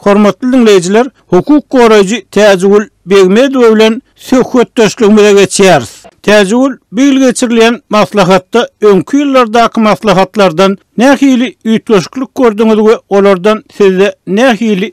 Hormatly diňleýjiler, hukuk goraýjy Täjigül Begmedowa bilen söhbetdeşligimize geçýäris. Täjigül, bu ýyl geçirilýän maslahatda öňki ýyllardaky maslahatlardan nähili üýtgeşiklik gördüňiz we olardan sizde nähili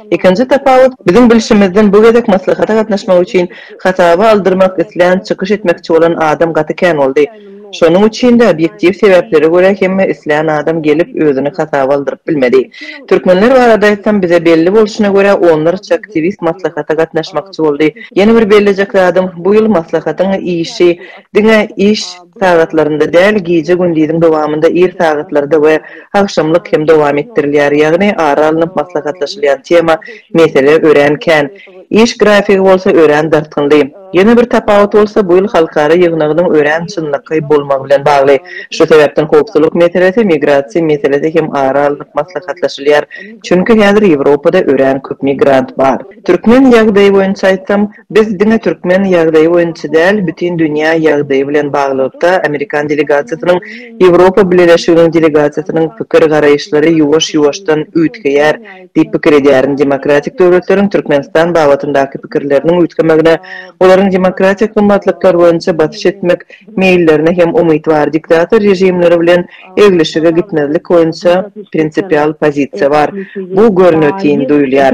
Ikinji tapawut, biziň bilşimizden bu gezek maslahata gatnaşmak üçin hasaba aldyrmak islän çykyş etmekçi bolan adam gaty kän boldy. Şonuň üçin-de obýektiw sebäplere görä hemme islän adam gelip özüni hasaba aldyryp bilmedi. Türkmenler barada aýtsam bize belli bolşuna görä onlarça aktiwist maslahata gatnaşmakçy boldy. Ýene bir bellejek zadym, bu ýyl maslahatyň işi diňe iş. sagatlarynda däl, gije-gündiziň dowamynda ir sagatlarda we agşamlyk hem dowam etdirilýär, ýagny ara alnyp maslahatlaşylýan tema, mesele örän kän. Iş grafigi bolsa örän dartgynly. Ýene bir tapawut bolsa, bu ýyl halkara ýygnagynyň örän çynlakaý bolmagy bilen bagly. Şu sebäpden howpsuzlyk meselesi, migrasiýa meselesi hem ara alnyp maslahatlaşylýar, çünki häzir Ýewropada örän köp migrant bar. Türkmen ýagdaýy boýunça aýtsam, Biz diňe türkmen ýagdaýy boýunça däl, bütin dünýä ýagdaýy bilen baglylykda amerikan delegasiýasynyň, Ýewropa Bileleşiginiň delegasiýasynyň pikir-garaýyşlary ýuwaş-ýuwaşdan üýtgeýär diýip pikir edýärin. Demokratik döwletleriň Türkmenistan babatyndaky pikirleriniň üýtgemegine olaryň demokratik gymmatlyklar boýunça basyş etmek meýillerine hem umytwar diktator režimleri bilen eglişige gitmezlik boýunça prinsipial pozisiýa bar. Bu görnetin duýulýar.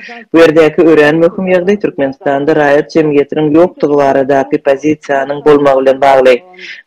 Bu ýerdäki örän möhüm ýagdaý Türkmenistanda raýat jemgyýetiniň ýokdugy baradaky pozisiýanyň bolmagy bilen bagly.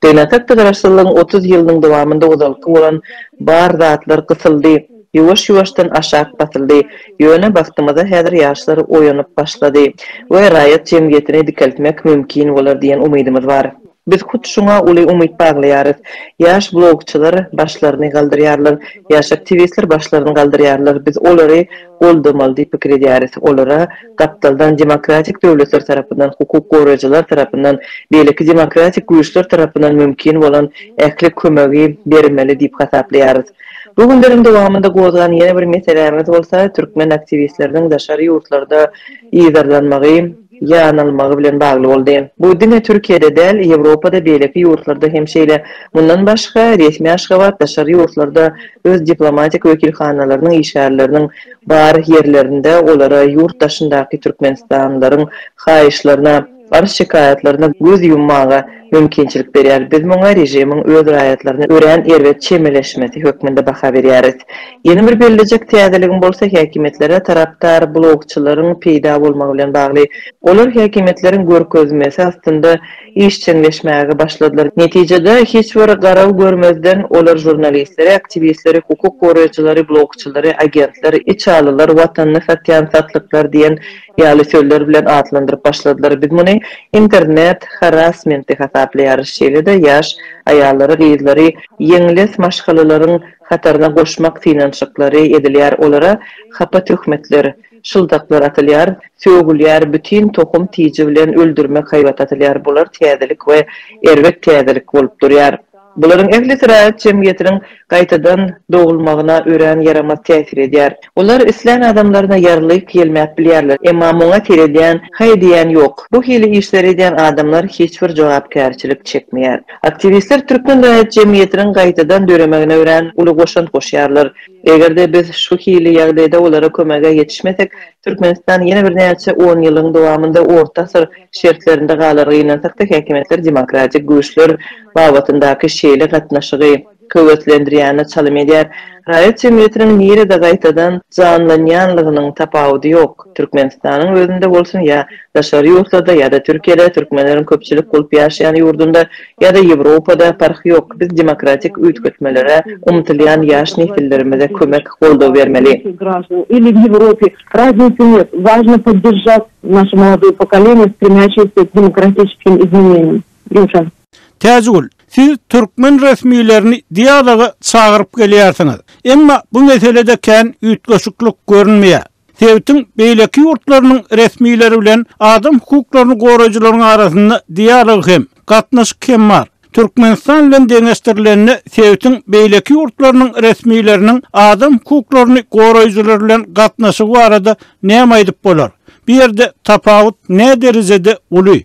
Gynansakda Garaşsyzlygyň otuz ýylynyň dowamynda ozalky bolan bar zatlar gysyldy, ýuwaş-ýuwaşdan aşak basyldy, ýöne bagtymyza häzir ýaşlar oýanyp başlady we raýat jemgyýetini dikeltmek mümkin bolar diýen umydymyz bar. Biz hut şuňa uly umyt baglaýarys. Ýaş blogçylar başlaryny galdyrýarlar, ýaş aktiwistler başlaryny galdyrýarlar, biz olary goldamaly diýip pikir edýäris. Olara gapdaldan demokratik döwletler tarapyndan, hukuk goraýjylar tarapyndan, beýleki demokratik güýçler tarapyndan mümkin bolan ähli kömegi bermeli diýip hasaplaýarys. Bu günleriň dowamynda gozgan ýene bir meselämiz bolsa türkmen aktiwistleriniň daşary ýurtlarda yzarlanmagy, ýanylmagy bilen bagly boldy. Bu diňe Türkiýede däl, Ýewropada, beýleki ýurtlarda hem şeýle. Mundan başga, resmi Aşgabat daşary ýurtlarda öz diplomatik wekilhanalarynyň işgärleriniň bar ýerlerinde olara ýurt daşyndaky türkmenistanlylaryň haýyşlaryna, arz-şikaýatlaryna göz ýummaga, mümkinçilik berýär. Biz muňa režimiň öz raýatlaryna örän erbet çemeleşmesi hökmünde baha berýäris. Ýene bir bellejek täzeligim bolsa häkimiýetlere tarapdar blogçylaryň peýda bolmagy bilen bagly. Olar häkimiýetleriň görkezmesi astynda işjeňleşmäge başladylar. Netijede, hiç bir garaw görmezden, olar žurnalistleri, aktiwistleri, hukuk goraýjylary, blogçylary, agentler, içalylar, watanyny satýan satlyklar diýen Ýaly sözler bilen atlandyryp başladylar. Biz muny internet harasmenti hasaplaýarys, şeýle-de ýaş aýallary, gyzlary ýeňles maşgalalaryň hataryna goşmak synanyşyklary edilýär, olara hapa töhmetler, şyldaklar atylýar, sögülýär, bütin tohum tiji bilen öldürmek haýbaty atylýar, bular täzelik we erbet täzelik bolup durýar. Bularyň ählisi raýat jemgyýetiniň gaýtadan dogulmagyna örän ýaramaz täsir edýär. Olar islän adamlaryna ýarylyk ýelmäp bilýärler, emma muňa seredýän, haý diýýän ýok. Bu hili işleri edýän adamlar hiç bir jogapkärçilik çekmeýär. Aktiwistler türkmen raýat jemgyýetiniň gaýtadan döremegine örän uly goşant goşýarlar. Eger-de biz şu hili ýagdaýda olara kömege ýetişmesek, Türkmenistan ýene birnäçe onýyllygyň dowamynda orta asyr şertlerinde galar, gynansakda häkimiýetler demokratik güýçler babatyndaky şeýle gatnaşygy höweslendirýänine çalym edýär. Raýat jemgyýetiniň nirede gaýtadan janlanýanlygynyň tapawudy ýok. Türkmenistanyň özünde bolsun ýa daşary ýurtlarda ýa-da Türkiýede, türkmenleriň köpçülik bolup ýaşaýan ýurdunda ýa-da Ýewropada, parh ýok, biz demokratik üýtgetmelere umtylýan ýaş nesillerimize kömek, goldaw bermeli. Täjigül, siz türkmen resmilerini dialoga çagyryp gelýärsiňiz. Emma bu meselede kän üýtgeşiklik görünmeýär. Sebitiň beýleki ýurtlarynyň resmileri bilen adam hukuklaryny goraýjylaryň arasynda dialog hem, gatnaşyk hem bar. Türkmenistan bilen deňeşdirilende, sebitiň beýleki ýurtlarynyň resmileriniň adam hukuklaryny goraýjylar bilen gatnaşygy barada näme aýdyp bolar? Bu ýerde tapawut nä derejede uly?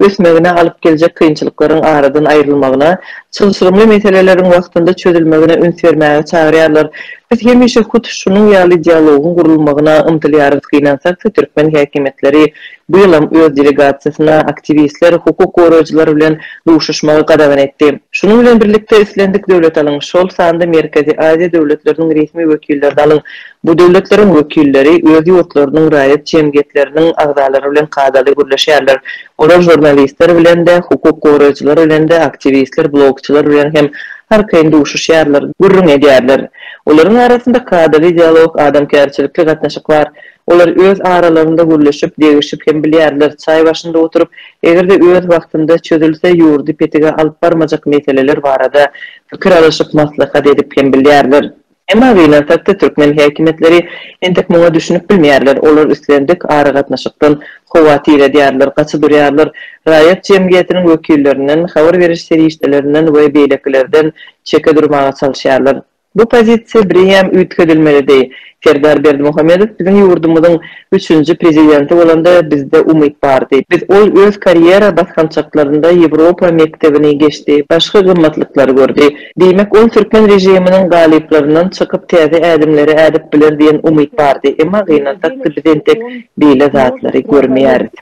ösmegine alyp geljek kynçylyklaryň aradan aýrylmagyna, çylşyrymly meseleleriň wagtynda çözülmegine üns bermäge çagyrýarlar. Biz hemişe hut şunuň ýaly dialogyň gurulmagyna ymtylýarys, gynansakda türkmen häkimiýetleri bu ýylam öz delegasiýasyna aktiwistler, hukuk goraýjylar bilen duşuşmagy gadagan etdi. Şunuň bilen birlikde islendik döwlet alyň, şol sanda Merkezi Aziýa döwletleriniň resmi wekillerini alyň, Bu döwletleriň wekilleri öz ýurtlarynyň raýat jemgyýetleriniň agzalary bilen kadaly gürleşýärler. Olar žurnalistler bilen-de, hukuk goraýjylar bilen-de, aktiwistler, blogçylar bilen hem arkaýyn duşuşýarlar, gürrüň edýärler. Olaryň arasynda kadaly dialog, adamkärçilikli gatnaşyk bar. Olar öz aralarynda gürleşip, degişip hem bilýärler, çaý başynda oturyp, eger-de öz wagtynda çözülse, ýurdy petige alyp barmajak meseleler barada pikir alyşyp, maslahat edip hem bilýärler. Emma gynansakda türkmen häkimiýetleri entek muňa düşünip bilmeýärler, olar islendik aragatnaşykdan howatyr edýärler, gaça durýarlar, raýat jemgyýetiniň wekillerinden, habar beriş serişdelerinden we beýlekilerden çeke durmaga çalyşýarlar. Bu pozisiýa birem üýtgedilmelidi. Serdar Berdimuhamedow biziň ýurdumyzyň üçünji prezidenti bolanda bizde umyt bardy. Biz ol öz karýera basgançaklarynda Ýewropa mekdebini geçdi, başga gymmatlyklary gördi. Diýmek, ol türkmen režiminiň galyplaryndan çykyp täze ädimleri ädip biler diýen umyt bardy. Emma gynansak-da biz entek beýle zatlary görmeýäris.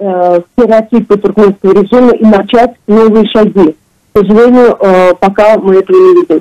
Stereotipi türkmenski režimi umaçat nowyy şagi. K sožalenýu poka my этого ne vidim.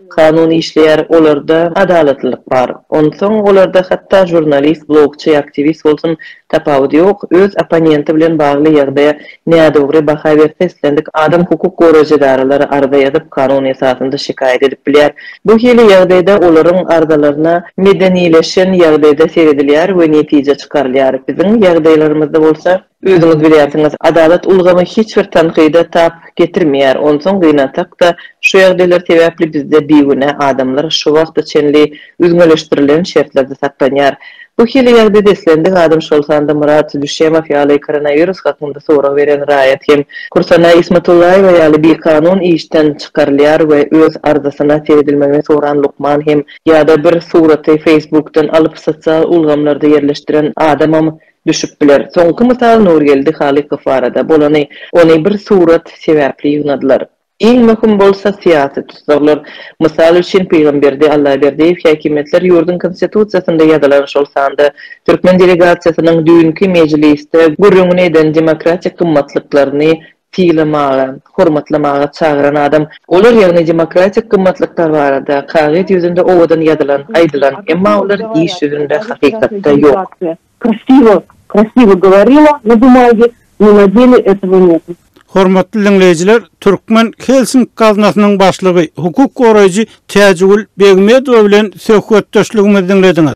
Kanun işleýär, olarda adalatlylyk bar. Onsoň olarda hatda žurnalist, blogçy, aktiwist bolsun, tapawut ýok, öz opponenti bilen bagly ýagdaýa nädogry baha berse islendik adam hukuk goraýjy edaralara arza ýazyp, kanun esasynda şikaýat edip bilýär. Bu hili ýagdaýda olaryň arzalaryna medenileşen ýagdaýda seredilýär we netije çykarylýar. Biziň ýagdaýlarymyzda bolsa, Özüňiz bilýärsiňiz, adalat ulgamy hiç bir tankyda tap getirmeýär, onsoň gynansak-da, şu ýagdaýlar sebäpli bizde bigünä adamlar şu wagta çenli üzňeleşdirilen şertlerde saklanýar. Bu hili ýagdaýda islendik adam, şol sanda Myrat Düşemow ýaly koronawirus hakynda sorag beren raýat hem Kursana Ismatullaýewa ýaly bikanun işden çykarylýar we öz arzasyna seredilmegini soran lukman hem ýa-da bir suraty feýsbukdan alyp sosial ulgamlarda ýerleşdiren adamam Düşüp biler. Soňky mysal Nurgeldi Halykow barada bolany, ony bir surat sebäpli ýygnadylar. Iň möhüm bolsa syýasy tussaglar. Mysal üçin, Pygamberdi Allaberdiýew häkimiýetler ýurduň Konstitusiýasynda ýazylan, şol sanda türkmen delegasiýasynyň düýnki mejlisde gürrüňini eden demokratik gymmatlyklaryny sylamaga, hormatlamaga çagyran adam. Olar, ýagny demokratik gymmatlyklar barada kagyz ýüzünde owadan ýazylan, aýdylan, emma olar iş ýüzünde, hakykatda ýok. Krasiwo, krasiwo goworila, na bumagie, no na dele etowo netu. Hormatly diňleýjiler, Türkmen Helsink gaznasynyň başlygy, hukuk goraýjy Täjigül Begmedowa bilen söhbetdeşligimizi diňlediňiz.